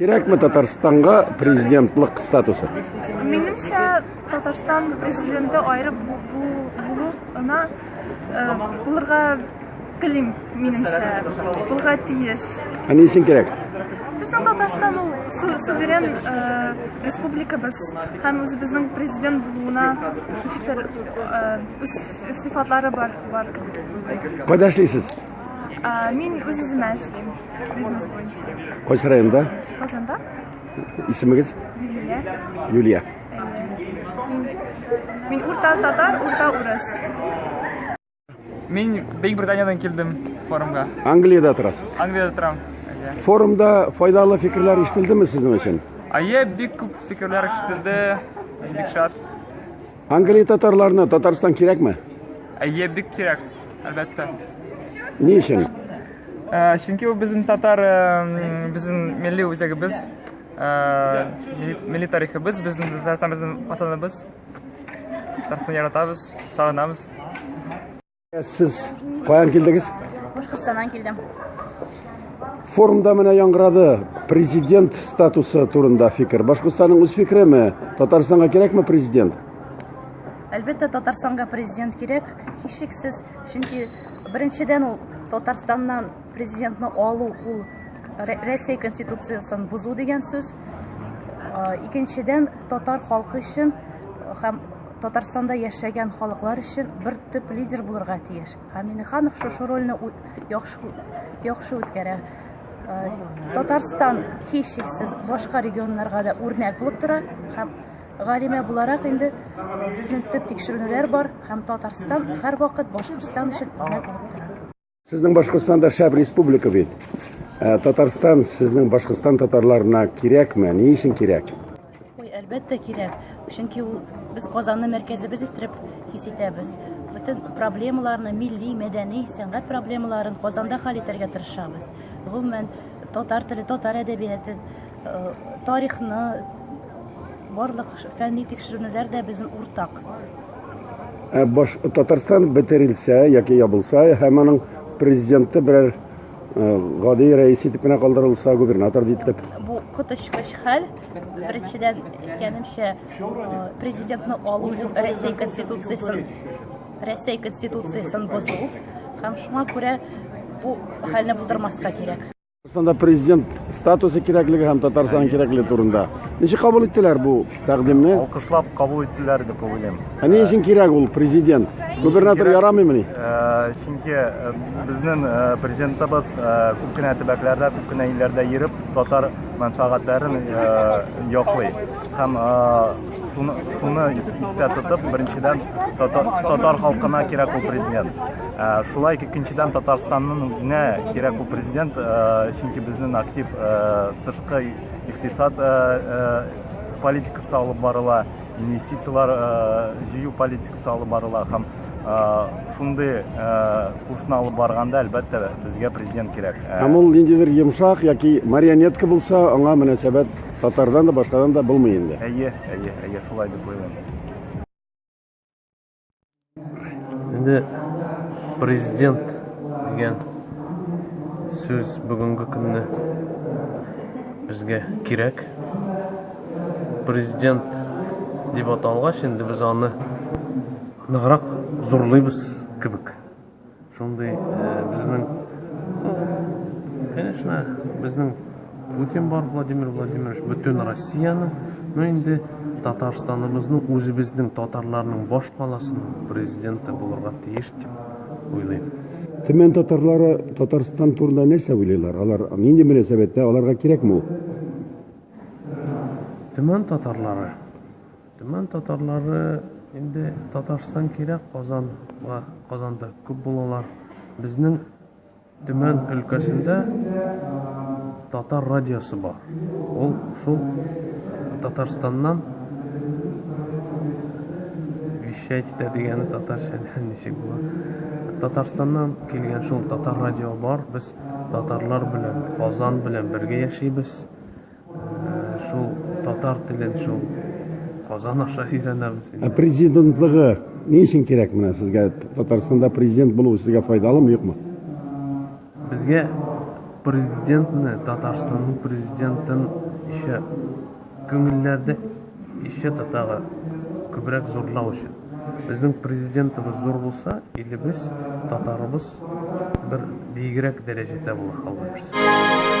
Кирәкме Татарстанга президентлык статусы? Минемчә, Татарстан президенты аерып булу ана э, булырга телим, минемчә. Булырга тиеш. Ә ни өчен кирәк? Безнең Татарстан ул суверен э, республика без һәм үзебезнең президент булуына ничектер э, үз сыйфатлары бар. Кайда эшлисез? Мин үз-үземә эшлим, бизнес буенча. Кайсы районда? Казанда. Исемегез? Юлия. Юлия. Мин урта татар, урта урыс. Мин Бейк Британиядән килдем форумга. Англиядә торасыз? Англиядә торам. Форумда файдалы фикерләр ишетелдеме сезнең өчен? Әйе, бик күп фикерләр ишетелде. Бик шат. Англия татарларына Татарстан кирәкме? Әйе, бик кирәк, әлбәттә. Ни өчен? Э, чөнки ул безнең татар, э, безнең милли үзәгебез, э, милли тарихыбыз, безнең Татарстан безнең ватаныбыз. Татарстан яратабыз, сагынабыз. Сез каян килдегез? Башкортстаннан килдем. Форумда менә яңгырады президент статусы турында фикер. Башкортстанның үз фикереме? Татарстанга кирәкме президент? Әлбәттә, Татарстанга президент кирәк, һичшиксез, чөнки беренчедән ул Татарстаннан президентны алу ул Рәсәй конституциясын бозу дигән сүз. Икенчедән, татар халкы өчен һәм Татарстанда яшәгән халыклар өчен бер төп лидер булырга тиеш. Һәм Минеханов шушы рольне яхшы яхшы үткәрә. Э, Татарстан һичшиксез башка регионнарга да үрнәк булып тора һәм галимә буларак инде безнең төп тикшеренүләр бар һәм Татарстан һәрвакыт Башкортстан өчен үрнәк булып тора. Сезнең Башкортстан да шәп республика бит. Ә, Татарстан сезнең Башкортстан татарларына кирәкме? Ни өчен кирәк? Ой, әлбәттә кирәк. Чөнки ул без Казанны мәркәзебез итеп хис итәбез. Бөтен проблемаларны, милли, мәдәни, сәнгать проблемаларын Казанда хәл итәргә тырышабыз. Гомумән, татар теле, татар әдәбияты Тарихны, барлык фәнни тикшеренүләр дә безнең уртак. Ә баш Татарстан бетерелсә яки ябылса һәм аның президенты берәр гади рәис итеп кенә калдырылса, губернатор дитлек. Бу коточкыч хәл. Беренчедән, әйткәнемчә, президентны алу Рәсәй конституциясен Рәсәй конституциясен бозу һәм шуңа күрә бу хәлне булдырмаска кирәк. Татарстанда президент статусы кирәклеге һәм Татарстанның кирәклеге турында. Ничек кабул иттеләр бу тәкъдимне? Алкышлап кабул иттеләр дип уйлыйм. Ә ни өчен кирәк ул президент? Губернатор ярамыймыни? Э, чөнки э, безнең э, президентыбыз күп кенә төбәкләрдә, күп кенә илләрдә йөреп, татар мәнфәгатьләрен яклый. Һәм Шуны, шуны истә тотып, беренчедән татар, татар халкына кирәк ул президент. Ә, шулай икенчедән Татарстанның үзенә кирәк ул президент, ә, чөнки безнең актив ә, тышкы икътисад ә, ә, политикасы алып барыла, инвестицияләр ә, җыю политикасы алып барыла һәм шундый курсны алып барганда әлбәттә безгә президент кирәк һәм ул ниндидер йомшак яки марионетка булса аңа мөнәсәбәт Татардан да, башкадан да булмый инде. Әйе, әйе, әйе, шулай дип уйлыйм. Инде президент дигән сүз бүгенге көнне безгә кирәк. Президент дип аталгач, инде без аны ныграк зурлыйбыз кебек. Шундый безнең, конечно, безнең Путин бар, Владимир Владимирович, бөтен Россияның, ну инде Татарстаныбызның, үзебезнең татарларның баш каласының президенты булырга тиеш дип уйлыйм. Төмән татарлары Татарстан турында нәрсә уйлыйлар? Алар нинди мөнәсәбәттә, аларга кирәкме ул? Төмән татарлары Төмән татарлары инде Татарстан кирәк Казанга, Казанда күп булалар. Безнең Төмән өлкәсендә татар радиосы бар. Ул шул Татарстаннан вещать итә дигәне татарча ничек була. Татарстаннан килгән шул татар радио бар. Без татарлар белән, Казан белән бергә яшибез. Шул татар телен шул Казан аша өйрәнәбез. Ә президентлыгы ни өчен кирәк менә сезгә? Татарстанда президент булу сезгә файдалымы, юкмы? Безгә президентны, Татарстанның президентын еще күңелләрдә Ещё да тагы күбрәк зурлау өчен. Безнең президентыбыз зур булса, илебез, татарыбыз бер биегрәк дәрәҗәдә булыр, Алла бирса.